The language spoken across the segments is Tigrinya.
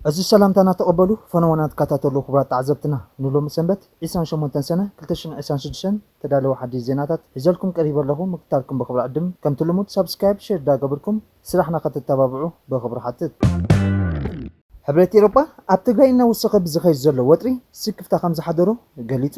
ዕዙዝ ሰላምታና ተቐበሉ ፈነወና ትከታተሉ ክቡራት ተዓዘብትና ንሎሚ ሰንበት ዒስራን ሸሞንተን ሰነ ክልተ ሽሕን ዒስራን ሽዱሽተን ተዳለወ ሓዲሽ ዜናታት ሒዘልኩም ቀሪበ ኣለኹ ምክታልኩም ብኽብሪ ዕድም ከምቲ ልሙድ ሳብስክራይብ ሼር ዳገብርኩም ስራሕና ከተተባብዑ ብኽብሪ ሓትት። ሕብረት ኤሮጳ ኣብ ትግራይ እናወሰኸ ብዝኸይድ ዘሎ ወጥሪ ስክፍታ ከምዝሓደሮ ገሊጹ።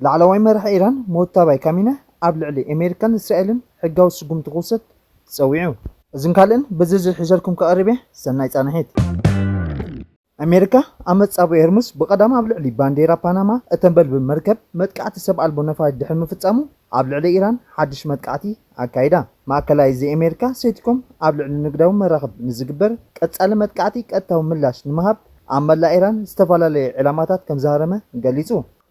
ላዕለዋይ መራሒ ኢራን ሞታባይ ካሚነህ ኣብ ልዕሊ ኤሜሪካን እስራኤልን ሕጋዊ ስጉምቲ ክውሰድ ጸዊዑ። እዝን ካልእን ብዝርዝር ሒዘልኩም ክቐርብ እየ፣ ሰናይ ጻንሒት። ኣሜሪካ ኣብ መጻብቦ ሆርሙዝ ብቐዳም ኣብ ልዕሊ ባንዴራ ፓናማ እተንበልብል መርከብ መጥቃዕቲ ሰብ ኣልቦ ነፋሪት ድሕሪ ምፍጻሙ ኣብ ልዕሊ ኢራን ሓድሽ መጥቃዕቲ ኣካይዳ። ማእከላይ እዚ ኣሜሪካ ሴንቲኮም ኣብ ልዕሊ ንግዳዊ መራኽብ ንዝግበር ቀጻሊ መጥቃዕቲ ቀጥታዊ ምላሽ ንምሃብ ኣብ መላእ ኢራን ዝተፈላለየ ዒላማታት ከምዝሃረመ ገሊጹ።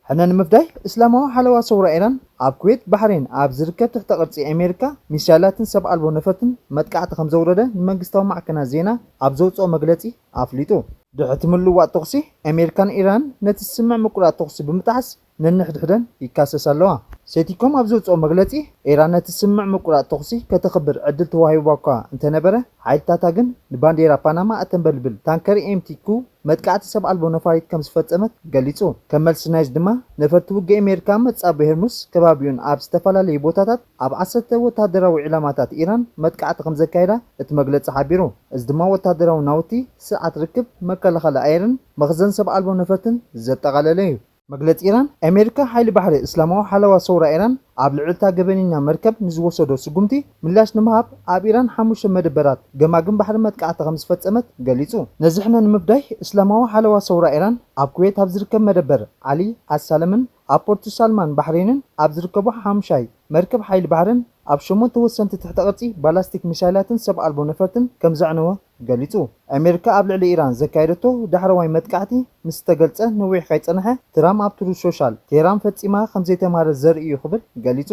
ሕነ ንምፍዳይ እስላማዊ ሓለዋ ሰውራ ኢራን ኣብ ኩዌት ባሕሬን ኣብ ዝርከብ ትሕተ ቅርጺ ኣሜሪካ ሚሳይላትን ሰብ ኣልቦ ነፈርትን መጥቃዕቲ ከምዘውረደ ንመንግስታዊ ማዕከናት ዜና ኣብ ዘውጽኦ መግለጺ ኣፍሊጡ። ድሕርቲ ምልውዋጥ ተኹሲ ኣሜሪካን ኢራንን ነቲ ስምምዕ ምቁራጽ ተኹሲ ብምጥሓስ ነንሕድሕደን ይካሰሳ ኣለዋ። ሴቲኮም ኣብ ዘውጽኦ መግለጺ ኢራን ነቲ ስምምዕ ምቁራጽ ተኹሲ ከተኽብር ዕድል ተዋሂቡዋ'ኳ እንተነበረ ሓይልታታ ግን ንባንዴራ ፓናማ እተንበልብል ታንከር ኤምቲ ኩው መጥቃዕቲ ሰብ ኣልቦ ነፋሪት ከም ዝፈጸመት ገሊጹ። ከም መልሲ ናይዚ ድማ ነፈርቲ ውግእ ኣሜሪካ መጻብብ ሄርሙስ ከባቢኡን ኣብ ዝተፈላለዩ ቦታታት ኣብ ዓሰርተ ወተሃደራዊ ዒላማታት ኢራን መጥቃዕቲ ከም ዘካየዳ እቲ መግለጺ ሓቢሩ። እዚ ድማ ወተሃደራዊ ናውቲ፣ ስርዓት ርክብ፣ መከላኸሊ ኣየርን መኽዘን ሰብ ኣልቦ ነፈርትን ዘጠቓለለ እዩ። መግለጺ ኢራን፣ ኣሜሪካ ሓይሊ ባሕሪ እስላማዊ ሓለዋ ሰውራ ኢራን ኣብ ልዕሊ'ታ ገበነኛ መርከብ ንዝወሰዶ ስጉምቲ ምላሽ ንምሃብ ኣብ ኢራን ሓሙሽተ መደበራት ገማግም ባሕሪ መጥቃዕቲ ከምዝፈጸመት ገሊጹ። ነዚ ሕነ ንምፍዳይ እስላማዊ ሓለዋ ሰውራ ኢራን ኣብ ኩዌት ኣብ ዝርከብ መደበር ዓሊ ኣልሳለምን ኣብ ፖርት ሳልማን ባሕሬንን ኣብ ዝርከቡ ሓሙሻይ መርከብ ሓይሊ ባሕርን ኣብ ሸሞንተ ወሰንቲ ትሕተ ቅርጺ ባላስቲክ ሚሳይላትን ሰብ ኣልቦ ነፈርትን ከምዘዕነወ ገሊጹ። ኣሜሪካ ኣብ ልዕሊ ኢራን ዘካየደቶ ዳሕረዋይ መጥቃዕቲ ምስ ተገልጸ ነዊሕ ከይጸንሐ፣ ትራም ኣብ ትሩዝ ሾሻል፣ ቴህራን ፈጺማ ከም ዘይተማህረት ዘርኢ እዩ ክብል ገሊጹ።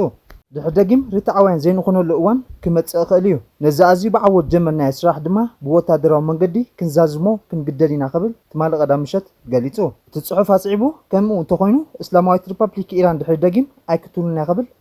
ድሕሪ ደጊም ርትዓውያን ዘይንኾነሉ እዋን ክመጽእ ይኽእል እዩ። ነዚ ኣዝዩ ብዓወት ዝጀመርናዮ ስራሕ ድማ ብወተሃደራዊ መንገዲ ክንዛዝሞ ክንግደድ ኢና ክብል ትማሊ ቀዳም ምሸት ገሊጹ። እቲ ጽሑፍ ኣስዒቡ፣ ከምኡ እንተኾይኑ እስላማዊት ሪፓብሊክ ኢራን ድሕሪ ደጊም ኣይክትህሉን እያ ክብል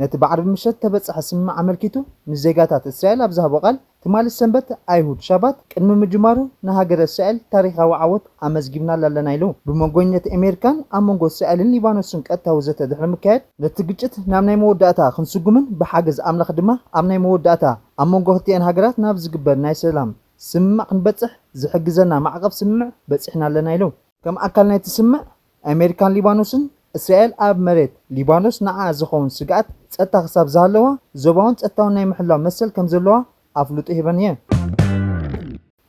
ነቲ ብዓርቢ ምሸት እተበጽሐ ስምምዕ ኣመልኪቱ ንዜጋታት እስራኤል ኣብ ዝሃቦ ቃል፣ ትማሊ ሰንበት፣ ኣይሁድ፣ ሻባት ቅድሚ ምጅማሩ ንሃገረ እስራኤል ታሪኻዊ ዓወት ኣመዝጊብናላ ኣለና ኢሉ። ብመንጎኝነት ኤሜሪካን ኣብ መንጎ እስራኤልን ሊባኖስን ቀጥታዊ ዘተ ድሕሪ ምካየድ፣ ነቲ ግጭት ናብ ናይ መወዳእታ ክንስጉምን ብሓገዝ ኣምላኽ ድማ ኣብ ናይ መወዳእታ ኣብ መንጎ ክልቲኤን ሃገራት ናብ ዝግበር ናይ ሰላም ስምምዕ ክንበጽሕ ዝሕግዘና ማዕቐፍ ስምምዕ በጺሕና ኣለና ኢሉ። ከም ኣካል ናይቲ ስምምዕ፣ ኣሜሪካን ሊባኖስን፣ እስራኤል ኣብ መሬት ሊባኖስ ንዓኣ ዝኸውን ስግኣት ጸጥታ ክሳብ ዝሃለዋ፣ ዞባውን ጸጥታውን ናይ ምሕላው መሰል ከም ዘለዋ ኣፍልጦ ሂበን እየን።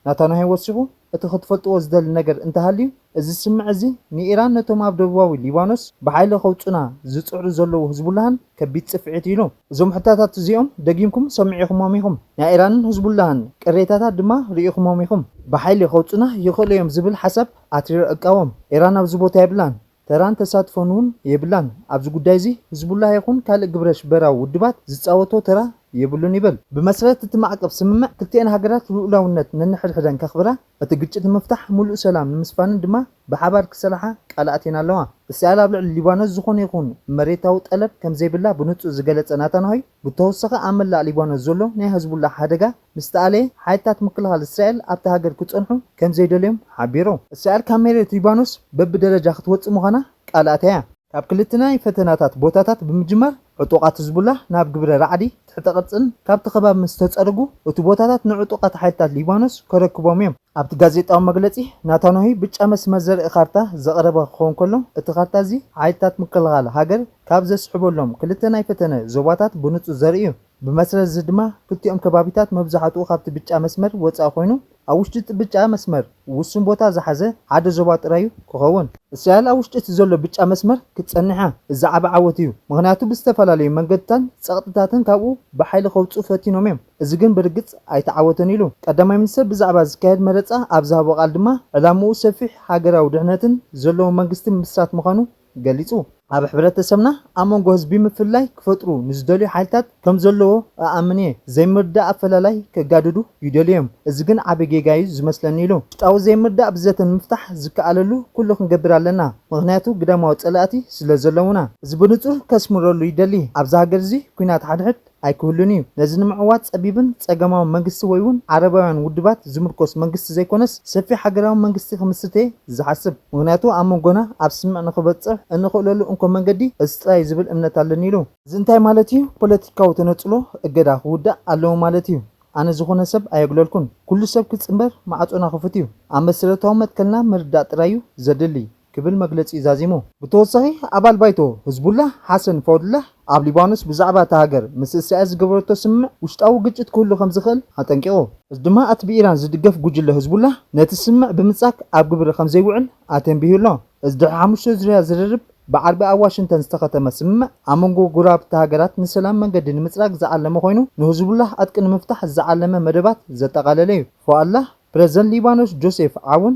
ናታንያሁ ወሲኹ፣ እቲ ክትፈልጥዎ ዝደሊ ነገር እንተሃልዩ፣ እዚ ስምምዕ እዚ ንኢራን ነቶም ኣብ ደቡባዊ ሊባኖስ ብሓይሊ ከውጹኡና ዝጽዕሩ ዘለዉ ህዝቡላህን ከቢድ ጽፍዒት እዩ ኢሉ። እዞም ሕታታት እዚኦም ደጊምኩም ሰሚዒኹሞም ኢኹም፣ ናይ ኢራንን ህዝቡላህን ቅሬታታት ድማ ርኢኹሞም ኢኹም። ብሓይሊ ከውጹኡና ይኽእሉ እዮም ዝብል ሓሳብ ኣትሪረ እቃወም። ኢራን ኣብዚ ቦታ የብላን፣ ተራን ተሳትፎን'ውን የብላን። ኣብዚ ጉዳይ'ዚ ህዝቡላህ ይኹን ካልእ ግብረሽበራዊ ውድባት ዝጻወቶ ተራ የብሉን ይብል። ብመስረት እቲ ማዕቀብ ስምምዕ፣ ክልቲኤን ሃገራት ልኡላውነት ነንሕድሕደን ከኽብራ፣ እቲ ግጭት ንምፍታሕ ምሉእ ሰላም ንምስፋንን ድማ ብሓባር ክሰርሓ ቃል ኣትየን ኣለዋ። እስራኤል ኣብ ልዕሊ ሊባኖስ ዝኾነ ይኹን መሬታዊ ጠለብ ከምዘይብላ ብንጹር ዝገለጸ ናታንሆይ፣ ብተወሳኺ ኣብ መላእ ሊባኖስ ዘሎ ናይ ህዝቡላህ ሓደጋ፣ ምስ ተኣለየ፣ ሓይልታት ምክልኻል እስራኤል ኣብታ ሃገር ክጸንሑ ከም ዘይደልዮም ሓቢሩ። እስራኤል ካብ መሬት ሊባኖስ በብደረጃ ክትወጽእ ምዃና ቃል ኣትያ። ካብ ክልተ ናይ ፈተናታት ቦታታት ብምጅማር፣ ዕጡቓት ህዝቡላህ ናብ ግብረ ራዕዲ ትሕተ ቅርጽን ካብቲ ከባቢ ምስ ተጸርጉ፣ እቲ ቦታታት ንዕጡቓት ሓይልታት ሊባኖስ ከረክቦም እዮም። ኣብቲ ጋዜጣዊ መግለጺ፣ ናታንያሁ ብጫ መስመር ዘርኢ ካርታ ዘቕረበ ክኸውን ከሎ፣ እቲ ካርታ እዚ ሓይልታት ምክልኻል ሃገር ካብ ዘስሕበሎም ክልተ ናይ ፈተነ ዞባታት ብንጹር ዘርኢ እዩ። ብመሰረት እዚ ድማ ክልቲኦም ከባቢታት መብዛሕትኡ ካብቲ ብጫ መስመር ወፃኢ ኮይኑ ኣብ ውሽጢ እቲ ብጫ መስመር ውሱን ቦታ ዝሓዘ ሓደ ዞባ ጥራይ እዩ ክኸውን። እስራኤል ኣብ ውሽጢ እቲ ዘሎ ብጫ መስመር ክትፀንሕ እያ፣ እዚ ዓቢ ዓወት እዩ፣ ምኽንያቱ ብዝተፈላለዩ መንገድታትን ፀቕጥታትን ካብኡ ብሓይሊ ከውፅኡ ፈቲኖም እዮም፣ እዚ ግን ብርግፅ ኣይተዓወተን ኢሉ። ቀዳማይ ሚኒስትር ብዛዕባ ዝካየድ መረፃ ኣብ ዝሃቦ ቃል ድማ ዕላምኡ ሰፊሕ ሃገራዊ ድሕነትን ዘለዎ መንግስቲ ምምስራት ምዃኑ ገሊጹ። ኣብ ሕብረተሰብና ኣብ መንጎ ህዝቢ ምፍልላይ ክፈጥሩ ንዝደልዩ ሓይልታት ከም ዘለዎ እኣምን እየ። ዘይምርድዳእ ኣፈላላይ ከጋድዱ ይደልዩ እዮም፣ እዚ ግን ዓቢ ጌጋ እዩ ዝመስለኒ ኢሉ። ውሽጣዊ ዘይምርድዳእ ብዘተ ንምፍታሕ ዝከኣለሉ ኩሉ ክንገብር ኣለና፣ ምኽንያቱ ግዳማዊ ጸላእቲ ስለ ዘለዉና። እዚ ብንጹር ከስምረሉ ይደሊ፣ ኣብዚ ሃገር እዚ ኲናት ሓድሕድ፣ ኣይክህሉን እዩ። ነዚ ንምዕዋት ጸቢብን ጸገማውን መንግስቲ ወይ'ውን ዓረባውያን ውድባት ዝምርኮስ መንግስቲ ዘይኮነስ ሰፊሕ ሃገራዊ መንግስቲ ክምስርት'የ ዝሓስብ። ምኽንያቱ ኣብ መንጎና ኣብ ስምምዕ ንኽበጽሕ እንኽእለሉ እንኮ መንገዲ እዚ ጥራይ'ዩ ዝብል እምነት ኣለኒ ኢሉ። እዚ እንታይ ማለት እዩ? ፖለቲካዊ ተነጽሎ፣ እገዳ፣ ክውዳእ ኣለዎ ማለት እዩ። ኣነ ዝኾነ ሰብ ኣየግለልኩን። ኩሉ ሰብ ክጽንበር ማዕጾና ክፉት'ዩ። ኣብ መሰረታዊ መትከልና ምርዳእ ጥራይ'ዩ ዘድሊ። ክብል መግለጺኡ ዛዚሙ። ብተወሳኺ ኣባል ባይቶ ህዝቡላህ ሓሰን ፎድላህ፣ ኣብ ሊባኖስ ብዛዕባ እታ ሃገር ምስ እስራኤል ዝገበረቶ ስምምዕ ውሽጣዊ ግጭት ክህሉ ከም ዝኽእል ኣጠንቂቑ። እዚ ድማ እቲ ብኢራን ዝድገፍ ጉጅለ ህዝቡላህ ነቲ ስምምዕ ብምጻግ ኣብ ግብሪ ከም ዘይውዕል ኣተንቢሁ ኣሎ። እዚ ድሕሪ ሓሙሽተ ዙርያ ዝርርብ ብዓርቢ ኣብ ዋሽንግተን ዝተኸተመ ስምምዕ፣ ኣብ መንጎ ጎረባብቲ ሃገራት ንሰላም መንገዲ ንምጽራግ ዝዓለመ ኮይኑ፣ ንህዝቡላህ ዕጥቂ ንምፍታሕ ዝዓለመ መደባት ዘጠቓለለ'ዩ። ፎኣላህ፣ ፕረዚደንት ሊባኖስ ጆሴፍ ዓውን፣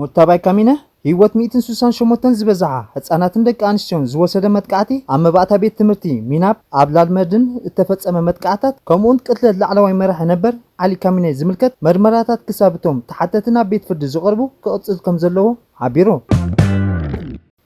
ሞታባይ ካሚነ ህይወት ሚእትን ስሳን ሸሞንተን ዝበዝሓ ህጻናትን ደቂ ኣንስትዮን ዝወሰደ መጥቃዕቲ ኣብ መባእታ ቤት ትምህርቲ ሚናፕ ኣብ ላልመርድን እተፈጸመ መጥቃዕታት ከምኡውን ቅትለት ላዕለዋይ መራሒ ነበር ዓሊ ካሚኔ ዝምልከት መርመራታት ክሳብ እቶም ተሓተቲ ናብ ቤት ፍርዲ ዝቐርቡ ክቕጽል ከምዘለዎ ሓቢሩ።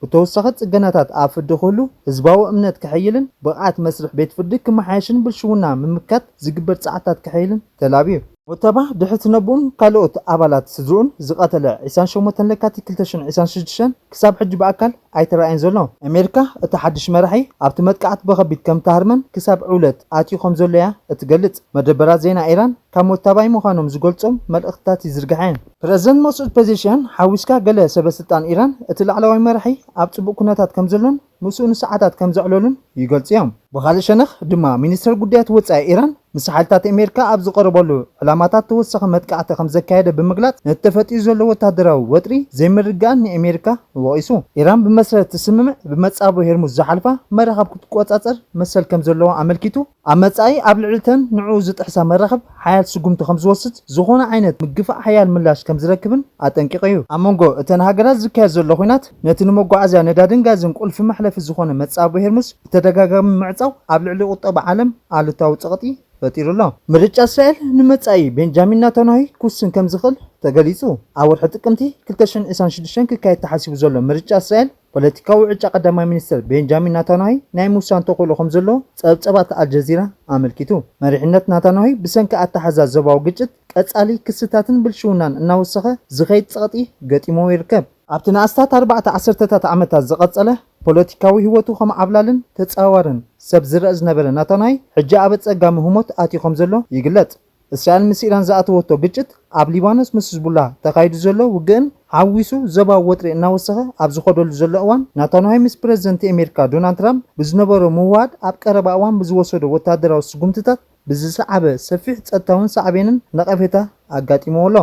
ብተወሳኺ ፅገናታት ኣብ ፍርዲ ክህሉ፣ ህዝባዊ እምነት ክሕይልን ብቕዓት መስርሕ ቤት ፍርዲ ክመሓየሽን ብልሽውና ምምካት ዝግበር ፃዕርታት ክሕይልን ተላብዩ። ሙተባ ድሕሪ ትነብኡን ካልኦት ኣባላት ስድርኡን ዝቐተለ ዒስራን ሸሞንተን ለካቲት ክልተ ሽሕን ዒስራን ሽዱሽተን ክሳብ ሕጂ ብኣካል ኣይተራእየን ዘሎ። ኣሜሪካ እቲ ሓድሽ መራሒ ኣብቲ መጥቃዕቲ ብኸቢድ ከምትሃርመን ክሳብ ዕውለት ኣትዩ ከምዘሎ'ያ እትገልፅ። መደበራት ዜና ኢራን ካብ ሙታባይ ምዃኖም ዝገልፆም መልእኽትታት ይዝርግሐ። ፕረዚደንት መሱድ ፔዜሽያን ሓዊስካ ገለ ሰበስልጣን ኢራን እቲ ላዕለዋይ መራሒ ኣብ ጽቡቕ ኩነታት ከምዘሎን ምስኡ ንሰዓታት ከምዘዕለሉን ይገልጹ እዮም። ብኻልእ ሸነኽ ድማ ሚኒስተር ጉዳያት ወጻኢ ኢራን ምስ ሓይልታት ኣሜሪካ ኣብ ዝቐረበሉ ዕላማታት ተወሳኺ መጥቃዕቲ ከምዘካየደ ብምግላጽ ነቲ ተፈጢሩ ዘሎ ወተሃደራዊ ወጥሪ ዘይምርግጋእን ንኣሜሪካ ወቒሱ። ኢራን ብመሰረት እቲ ስምምዕ ብመጻብቦ ሄርሙዝ ዝሓልፋ መራኽብ ክትቆጻጸር መሰል ከምዘለዋ ኣመልኪቱ። ኣብ መጻኢ ኣብ ልዕሊ'ተን ንዕኡ ዝጥሕሳ መራኽብ ሓያል ስጉምቲ ከም ዝወስድ፣ ዝኾነ ዓይነት ምግፋዕ ሓያል ምላሽ ከም ዝረክብን ኣጠንቂቑ'ዩ። ኣብ መንጎ እተን ሃገራት ዝካየድ ዘሎ ኲናት፣ ነቲ ንመጓዓዝያ ነዳድን ጋዝን ቁልፊ መሕለፊ ዝኾነ መጻብቦ ሄርሙዝ ብተደጋጋሚ ምዕጻው ኣብ ልዕሊ ቁጠባ ዓለም ኣሉታዊ ጸቕጢ ፈጢሩ ኣሎ። ምርጫ እስራኤል ንመጻኢ ቤንጃሚን ናታንያሁ ክውስን ከም ዝኽእል ተገሊጹ። ኣብ ወርሒ ጥቅምቲ ክልተ ሽሕን ዕስራን ሽዱሽተን ክካየድ ተሓሲቡ ዘሎ ምርጫ እስራኤል፣ ፖለቲካዊ ዕጫ ቀዳማይ ሚኒስተር ቤንጃሚን ናታንያሂ ናይ ምውሳን ተኽእሎ ከምዘሎ ጸብጸባት ኣልጀዚራ ኣመልኪቱ። መሪሕነት ናታንያሂ ብሰንኪ ኣተሓሕዛ ዞባዊ ግጭት፣ ቀጻሊ ክስታትን ብልሽውናን እናወሰኸ ዝኸይድ ጸቕጢ ገጢምዎ ይርከብ። ኣብቲ ንኣስታት ኣርባዕተ ዓሰርተታት ዓመታት ዝቐጸለ ፖለቲካዊ ህይወቱ ከም ዓብላልን ተጻዋርን ሰብ ዝረኣ ዝነበረ ናታንያሂ፣ ሕጂ ኣብ ኣጸጋሚ ህሞት ኣትዩ ከምዘሎ ይግለጽ። እስራኤል ምስ ኢራን ዝኣተወቶ ግጭት፣ ኣብ ሊባኖስ ምስ ህዝቡላህ ተኻይዱ ዘሎ ውግእን ሓዊሱ ዞባዊ ወጥሪ እናወሰኸ ኣብ ዝኸደሉ ዘሎ እዋን፣ ናታንያሁ ምስ ፕረዚደንት ኤሜሪካ ዶናልድ ትራምፕ ብዝነበሮ ምውህሃድ ኣብ ቀረባ እዋን ብዝወሰዶ ወተሃደራዊ ስጉምትታት ብዝሰዓበ ሰፊሕ ጸጥታውን ሳዕቤንን ነቐፌታ ኣጋጢምዎ ኣሎ።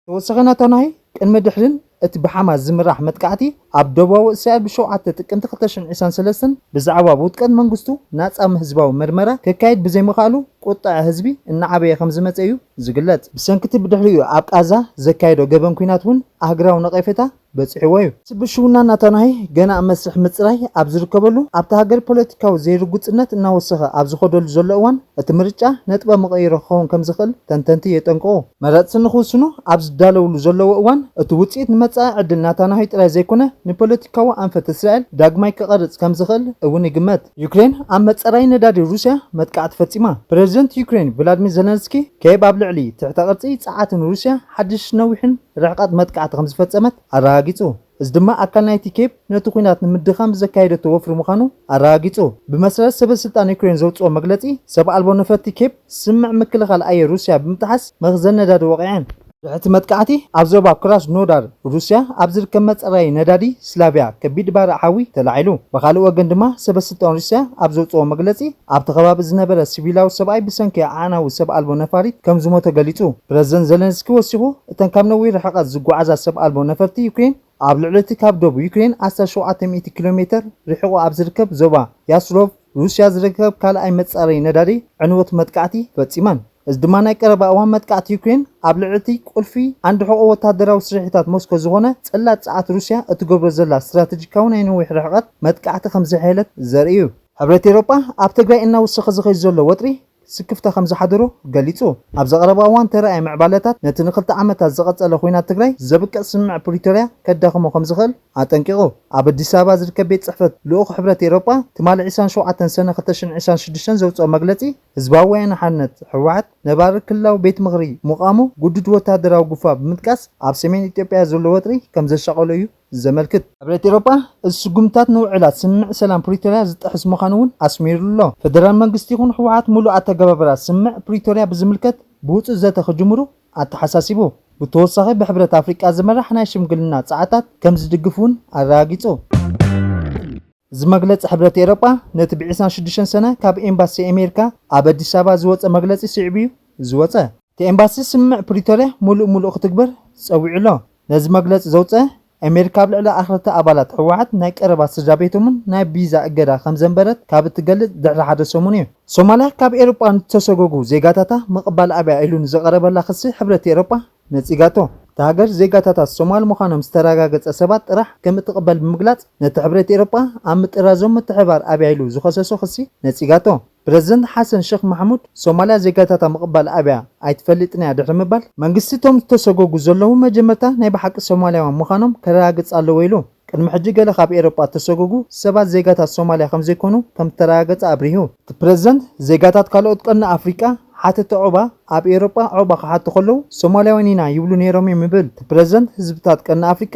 ተወሳኺ ነታ ናይ ቅድሚ ድሕሪን እቲ ብሓማስ ዝምራሕ መጥቃዕቲ ኣብ ደቡባዊ እስራኤል ብ ሸውዓተ ጥቅምቲ ክልተ ሽሕን ዒስራን ሰለስተን ብዛዕባ ብ ውድቀት መንግስቱ ናጻ ም ህዝባዊ መርመራ ከካይድ ብዘይምኽኣሉ ቁጠዐ ህዝቢ እናዓበየ ከምዝመጸ እዩ ዝግለጽ። ብሰንኪ እቲ ብድሕሪኡ ኣብ ቃዛ ዘካየዶ ገበን ኲናት ውን ኣህግራዊ ነቐፌታ በጺሕዎ'ዩ። እቲ ብልሽውና ናታንያሁ ገና ኣብ መስርሕ ምጽራይ ኣብ ዝርከበሉ፣ ኣብታ ሃገር ፖለቲካዊ ዘይርጉጽነት እናወሰኸ ኣብ ዝኸደሉ ዘሎ እዋን፣ እቲ ምርጫ ነጥበ መቐይሮ ክኸውን ከም ዝኽእል ተንተንቲ የጠንቅቑ። መረጽቲ ንኽውስኑ ኣብ ዝዳለውሉ ዘለዎ እዋን፣ እቲ ውጽኢት ንመጻኢ ዕድል ናታንያሁ ጥራይ ዘይኮነ፣ ንፖለቲካዊ ኣንፈት እስራኤል ዳግማይ ክቐርጽ ከም ዝኽእል እውን ይግመት። ዩክሬን ኣብ መጻረዪ ነዳዲ ሩስያ መጥቃዕቲ ፈጺማ። ፕረዚደንት ዩክሬን ቭላድሚር ዘለንስኪ፣ ኬቭ ኣብ ልዕሊ ትሕተ-ቅርጺ ጸዓትን ሩስያ ሓድሽ ነዊሕን ርሕቀት መጥቃዕቲ ከም ዝፈጸመት ኣረጋጊጹ፣ እዚ ድማ ኣካል ናይቲ ኬቭ ነቲ ኲናት ንምድኻም ዘካየደቶ ወፍሪ ምዃኑ ኣረጋጊጹ። ብመሰረት ሰበስልጣን ዩክሬን ዘውጽኦ መግለጺ፣ ሰብ ኣልቦ ነፈርቲ ኬቭ ስምምዕ ምክልኻል ኣየር ሩስያ ብምጥሓስ መኽዘን ነዳዲ ወቒዐን። እቲ መጥቃዕቲ ኣብ ዞባ ክራስኖዳር ሩስያ ኣብ ዝርከብ መጻረዪ ነዳዲ ስላቭያ ከቢድ ባርዕ ሓዊ ተላዒሉ። ብኻልእ ወገን ድማ ሰበ ስልጣን ሩስያ ኣብ ዘውጽእዎ መግለጺ ኣብቲ ከባቢ ዝነበረ ሲቪላዊ ሰብኣይ ብሰንኪ ኣዕናዊ ሰብ ኣልቦ ነፋሪት ከም ዝሞተ ገሊጹ። ፕረዚደንት ዘለንስኪ ወሲኹ እተን ካብ ነዊሕ ርሕቐት ዝጓዓዛ ሰብ ኣልቦ ነፈርቲ ዩክሬን ኣብ ልዕሊ እቲ ካብ ዶብ ዩክሬን ኣስታት ሸውዓተ ሚእቲ ኪሎ ሜተር ርሒቑ ኣብ ዝርከብ ዞባ ያስሎቭ ሩስያ ዝርከብ ካልኣይ መጻረዪ ነዳዲ ዕንወት መጥቃዕቲ ፈጺመን። እዚ ድማ ናይ ቀረባ እዋን መጥቃዕቲ ዩክሬን ኣብ ልዕሊ እቲ ቁልፊ ዓንዲ ሕቖ ወተሃደራዊ ስርሒታት ሞስኮ ዝዀነ ጽላት ጸዓት ሩስያ እትገብሮ ዘላ ስትራተጂካዊ ናይ ነዊሕ ርሕቐት መጥቃዕቲ ከም ዘሐየለት ዘርኢ'ዩ። ሕብረት ኤውሮጳ፣ ኣብ ትግራይ እናወሰኸ ዝኸይድ ዘሎ ወጥሪ ስክፍታ ከምዝሓደሮ ገሊጹ። ኣብዚ ቀረባ እዋን ዝተራእየ ምዕባለታት ነቲ ንክልተ ዓመታት ዝቐጸለ ኹናት ትግራይ ዘብቅዕ ስምምዕ ፕሪቶርያ ከዳኽሞ ከምዝኽእል ኣጠንቂቑ። ኣብ ኣዲስ ኣበባ ዝርከብ ቤት ጽሕፈት ልኡኽ ሕብረት ኤሮጳ ትማሊ ዕስራን ሸውዓተን ሰነ ክልተ ሽሕን ዕስራን ሽዱሽተን ዘውጽኦ መግለጺ ህዝባዊ ወያነ ሓርነት፣ ህወሓት፣ ነባሪ ክልላዊ ቤት ምኽሪ ምቛሙ ግዱድ ወተሃደራዊ ጉፋ ብምጥቃስ ኣብ ሰሜን ኢትዮጵያ ዘሎ ወጥሪ ከምዘሻቐሎ እዩ ዘመልክት። ሕብረት ኤሮጳ እዚ ስጉምትታት ንውዕላት ስምምዕ ሰላም ፕሪቶርያ ዝጥሕስ ምዃኑ እውን ኣስሚሩ'ሎ። ፈደራል መንግስቲ ይኹን ህወሓት ምሉእ ኣተገባብራ ስምምዕ ፕሪቶርያ ብዝምልከት ብውጹእ ዘተ ክጅምሩ ኣተሓሳሲቡ። ብተወሳኺ ብሕብረት ኣፍሪቃ ዝምራሕ ናይ ሽምግልና ጸዓታት ከም ዝድግፍ እውን ኣረጋጊጹ። እዚ መግለጺ ሕብረት ኤሮጳ ነቲ ብ ዕስራን ሽዱሽተን ሰነ ካብ ኤምባሲ ኣሜሪካ ኣብ ኣዲስ ኣበባ ዝወጸ መግለጺ ስዒቡ'ዩ ዝወጸ። እቲ ኤምባሲ ስምምዕ ፕሪቶርያ ምሉእ ምሉእ ክትግበር ጸዊዑ'ሎ። ነዚ መግለፂ ዘውፀ ኣሜሪካ ኣብ ልዕሊ ኣኽረርቲ ኣባላት ህወሓት ናይ ቀረባ ስድራቤቶምን ናይ ቢዛ እገዳ ከምዘንበረት ካብ እትገልፅ ድሕሪ ሓደ ሰሙን እዩ። ሶማልያ ካብ ኤሮጳ ንዝተሰጎጉ ዜጋታታ ምቕባል ኣብያ ኢሉ ንዝቐረበላ ክሲ ሕብረት ኤሮጳ ነፂጋቶ። እታ ሃገር ዜጋታታ ሶማል ምዃኖም ዝተረጋገፀ ሰባት ጥራሕ ከምእትቕበል ብምግላፅ ነቲ ሕብረት ኤሮጳ ኣብ ምጥራዞም ምትሕብባር ኣብያ ኢሉ ዝኸሰሶ ክሲ ነፂጋቶ። ፕረዚደንት ሓሰን ሸኽ ማሕሙድ፣ ሶማልያ ዜጋታታ ምቕባል ኣብያ ኣይትፈልጥን'ያ ድሕሪ ምባል፣ መንግስቲ እቶም ዝተሰጎጉ ዘለዉ መጀመርታ ናይ ብሓቂ ሶማልያውያን ምዃኖም ከረጋግጽ ኣለዎ ኢሉ። ቅድሚ ሕጂ ገለ ካብ ኤውሮጳ እተሰጎጉ ሰባት ዜጋታት ሶማልያ ከምዘይኮኑ ከምእተረጋገጸ ኣብሪሁ። እቲ ፕረዚደንት፣ ዜጋታት ካልኦት ቀርኒ ኣፍሪቃ ሓተቲ ዑቕባ ኣብ ኤውሮጳ ዑቕባ ክሓቱ ከለዉ ሶማልያውያን ኢና ይብሉ ነይሮም'ዮም ይብል። እቲ ፕረዚደንት፣ ህዝብታት ቀርኒ ኣፍሪቃ፣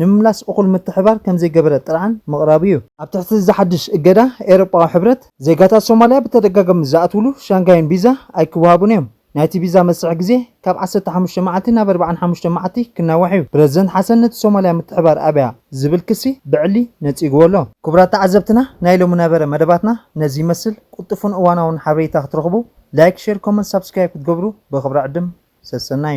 ንምምላስ እኹል ምትሕብባር ከምዘይገበረ ጥርዓን ምቕራቡ እዩ። ኣብ ትሕቲ እዚ ሓድሽ እገዳ ኤውሮጳዊ ሕብረት፣ ዜጋታት ሶማልያ ብተደጋጋሚ ዝኣትውሉ ሻንጋይን ቪዛ ኣይክወሃቡን እዮም። ናይቲ ቪዛ መስርሒ ግዜ ካብ ዓሰርተ ሓሙሽተ መዓልቲ ናብ ኣርብዓን ሓሙሽተን መዓልቲ ክናዋሕ እዩ። ፕረዚደንት ሓሰን ነቲ ሶማልያ ምትሕብባር ኣብያ ዝብል ክሲ ብዕሊ ነጺግዎ ኣሎ። ክቡራት ተዓዘብትና ናይ ሎሚ ነበረ መደባትና ነዚ ይመስል። ቁልጡፉን እዋናውን ሓበሬታ ክትረኽቡ ላይክ ሼር ኮመንት ሳብስክራይብ ክትገብሩ ብኽብሪ ዕድም። ሰሰናዩ።